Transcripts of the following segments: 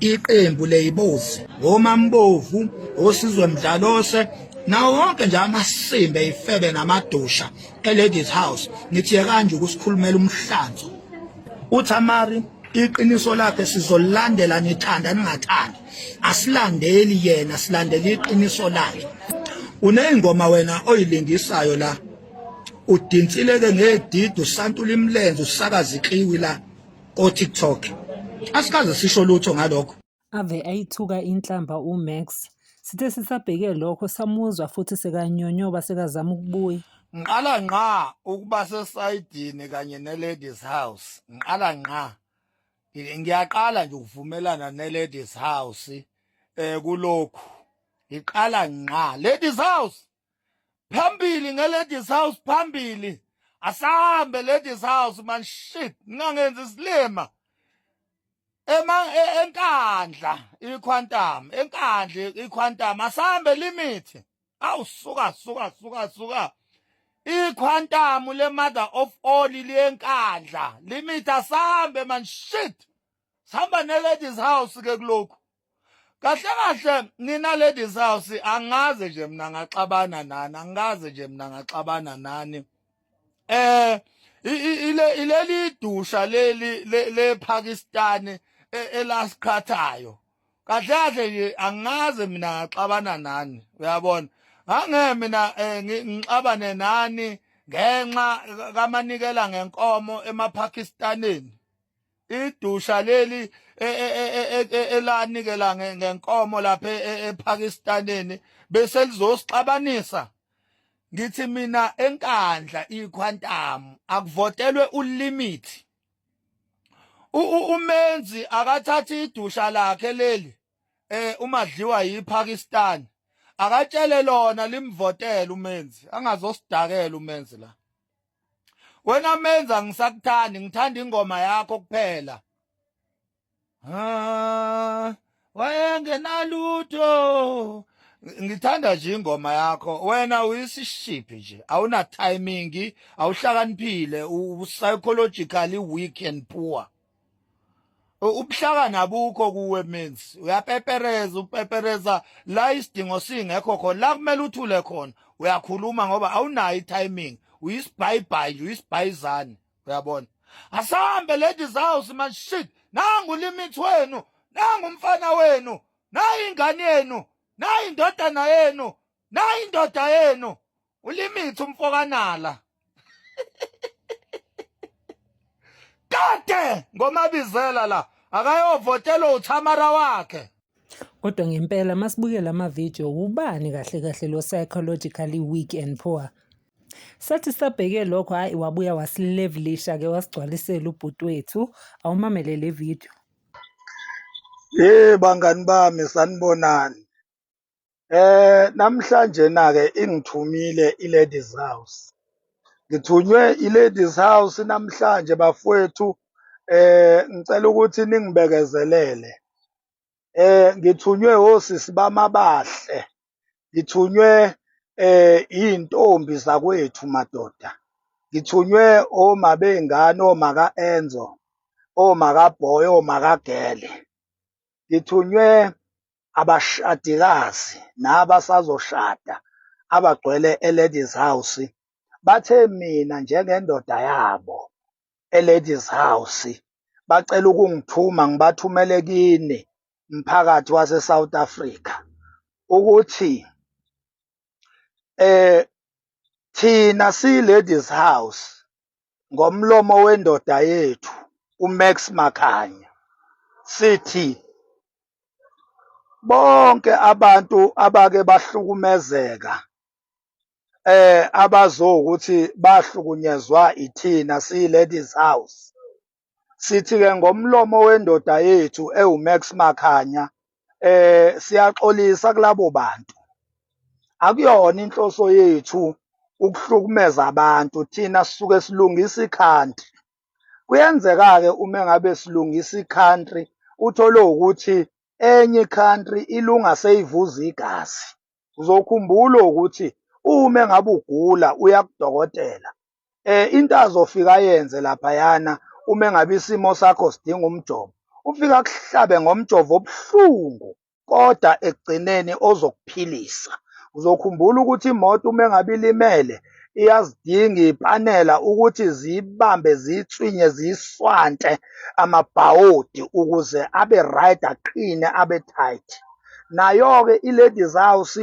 iqembu leyibozi ngomambovu osizwe mdlalose nawo wonke nje amasimbe ifebe namadusha eladies house ngithi kanje ukusikhulumela umhlanzo uthamari iqiniso lakhe sizolandela nithanda ningathandi asilandeli yena silandela iqiniso lakhe uneyingoma wena oyilingisayo la udinsileke ngedidi usantula imlenze usakaza ikliwi la ko TikTok asikaze sisho lutho ngalokho ave ayithuka inhlamba uMax sithe sisabheke lokho samuzwa futhi sekanyonyoba sekazama ukubuya ngiqala ngqa ukuba sesayidini kanye ne-ladies house ngiqala ngqa ngiyaqala nje ukuvumelana ne-ladies house um kulokhu ngiqala ngqa ladies house phambili ngeladies house phambili asahambe ladies house man shit ngingangenzi isilima ema e, enkandla iquantum enkandla iquantum asahambe limit awu suka suka suka suka iquantum le mother of all liyenkandla limit asahambe man shit sihamba ne-ladies house ke kulokhu kahle kahle nina ladies house angaze nje mina ngaxabana nani angaze nje mina ngaxabana nani eh ile ileli dusha leli le Pakistan e, elasikhathayo kahle kahle nje angaze mina ngaxabana nani uyabona ngangeke mina eh, ngixabane nani ngenxa kamanikela ngenkomo emaPakistaneni idusha leli e, e, e, elanikela ngenkomo lapha ePakistaneni bese lizosixabanisa ngithi mina enkandla iquantum akuvotelwe ulimit umenzi akathathi idusha lakhe leli eh umadliwa yiPakistan akatshele lona limvotela umenzi angazosidakela umenzi la wena menza ngisakuthandi ngithanda ingoma yakho kuphela ah wayengenalutho ngithanda nje ingoma yakho wena uyisishiphi nje awuna timing awuhlakaniphile u psychologically weak and poor ubuhlakani abukho kuwe menzi uyapepereza upepereza la isidingo singekho khona la kumele uthule khona uyakhuluma ngoba awunayo itiming uyisibhayibhayi nje uyisibhayizane uyabona asambe lady zaws man shit nangu limit wenu nangu umfana wenu nayi ingane yenu nayi indodana yenu nayi indoda yenu ulimithi umfokanala kade ngomabizela la akayovotela uthamara wakhe kodwa ngempela masibukela ama video ubani kahle kahle lo psychologically weak and poor sathi sabheke lokho hayi wabuya wasilevelisha ke wasigcwalisela ubhuti wethu awumamele le video hey bangani bami sanibonani Eh namhlanje na ke ingithumile iLadies House. Ngithunywe iLadies House namhlanje bafowethu eh ngicela ukuthi ningibekezelele. Eh ngithunywe osisi bamabahle. Ngithunywe eh izintombi zakwethu madoda. Ngithunywe oma bengane oma ka Enzo, oma ka Boy, oma ka Gele. Ngithunywe abashadikazi nabasazoshada abagcwele eLadies House bathe mina njengendoda yabo eLadies House bacela ukungithuma ngibathumele kini mphakathi waseSouth Africa ukuthi eh thina siyi-Ladies House ngomlomo wendoda yethu uMax Makhanya sithi bonke abantu abake bahlukumezeka eh abazokuthi bahlukunyezwa ithina siyi ladies house sithi ke ngomlomo wendoda yethu ewuMax Makhanya eh siyaxolisa kulabo bantu akuyona inhloso yethu ukuhlukumeza abantu thina sisuke silungisa ikhanti Kuyenzeka-ke uma ngabe silungisa i-country uthole ukuthi enye i-country ilunga seyivuza igazi. Uzokhumbula ukuthi uma ngabe ugula uya kudokotela um into azofika ayenze laphayana uma ngabe isimo sakho sidinga umjovo ufike akuhlabe ngomjovo obuhlungu kodwa ekugcineni ozokuphilisa. Uzokhumbula ukuthi imoto uma engabe ilimele iyazidinga ipanela ukuthi ziyibambe ziyitswinye ziyiswante amabhawodi ukuze abe right aqine abe tight. Nayo-ke i-ladies house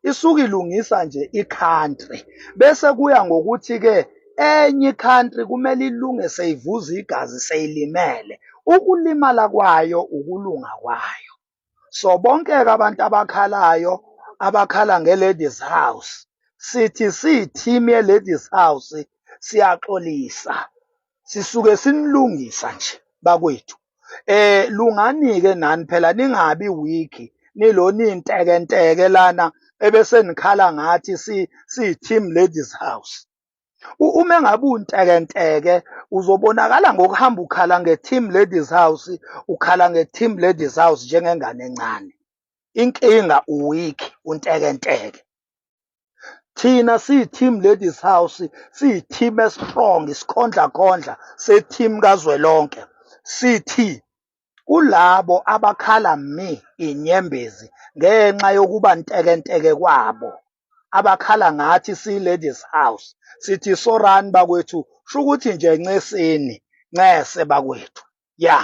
isuke ilungisa nje i-country bese kuya ngokuthi-ke enye i-country kumele ilunge seyivuza igazi seyilimele ukulimala kwayo ukulunga kwayo so bonke-ke abantu abakhalayo abakhala nge-ladies house sithi siyi-team ye-ladies house siyaxolisa sisuke sinilungisa nje bakwethu eh lungani ke nani phela ningabi weak nilo ninteke nteke lana ebese nikhala ngathi si si team ladies house uma ngabe unteke nteke uzobonakala ngokuhamba ukhala nge team ladies house ukhala nge team ladies house njengengane encane inkinga uweak unteke nteke thina siyi-team ladies house siyi-team esistrong isikhondlakhondla se-team kazwelonke sithi kulabo abakhala mi inyembezi ngenxa yokuba ntekenteke kwabo abakhala ngathi siyi-ladies house sithi sorani bakwethu shukuthi nje ncesini ncese bakwethu ya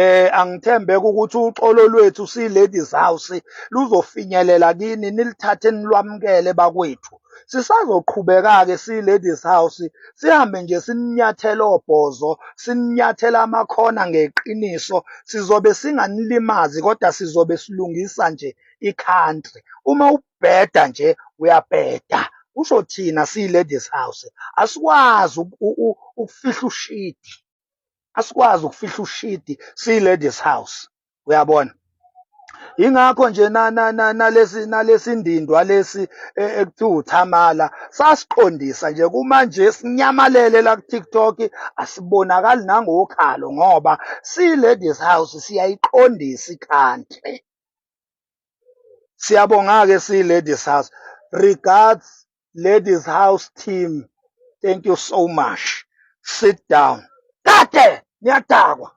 eh angithembeka ukuthi uxolo lwethu si ladies house luzofinyelela kini nilithathe nilwamukele bakwethu sisazoqhubeka-ke si-ladies house sihambe nje sininyathela obhozo sininyathela amakhona ngeqiniso sizobe singanilimazi kodwa sizobe silungisa nje i-country uma ubheda nje uyabheda kusho thina siyi-ladies house asikwazi ukufihla ushidi asikwazi ukufihla ushidi siyi-ladies house uyabona yingakho nje nalesi nalesindindwa lesi e, ekuthiwa uthamala sasiqondisa nje kumanje sinyamalele la ku-tiktok asibonakali nangokhalo ngoba siyi-ladies house siyayiqondisa ikhanti siyabonga-ke siyi-ladies house regards ladies house team thank you so much sit down kade niyadakwa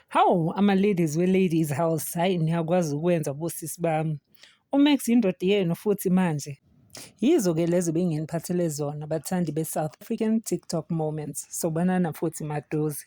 Hawu ama-ladies we-ladies house hhayi niyakwazi ukwenza bosisi bami. UMax yindoda yenu futhi manje. Yizo-ke lezo benginiphathele zona bathandi be-South African TikTok Moments. Sobonana futhi maduze.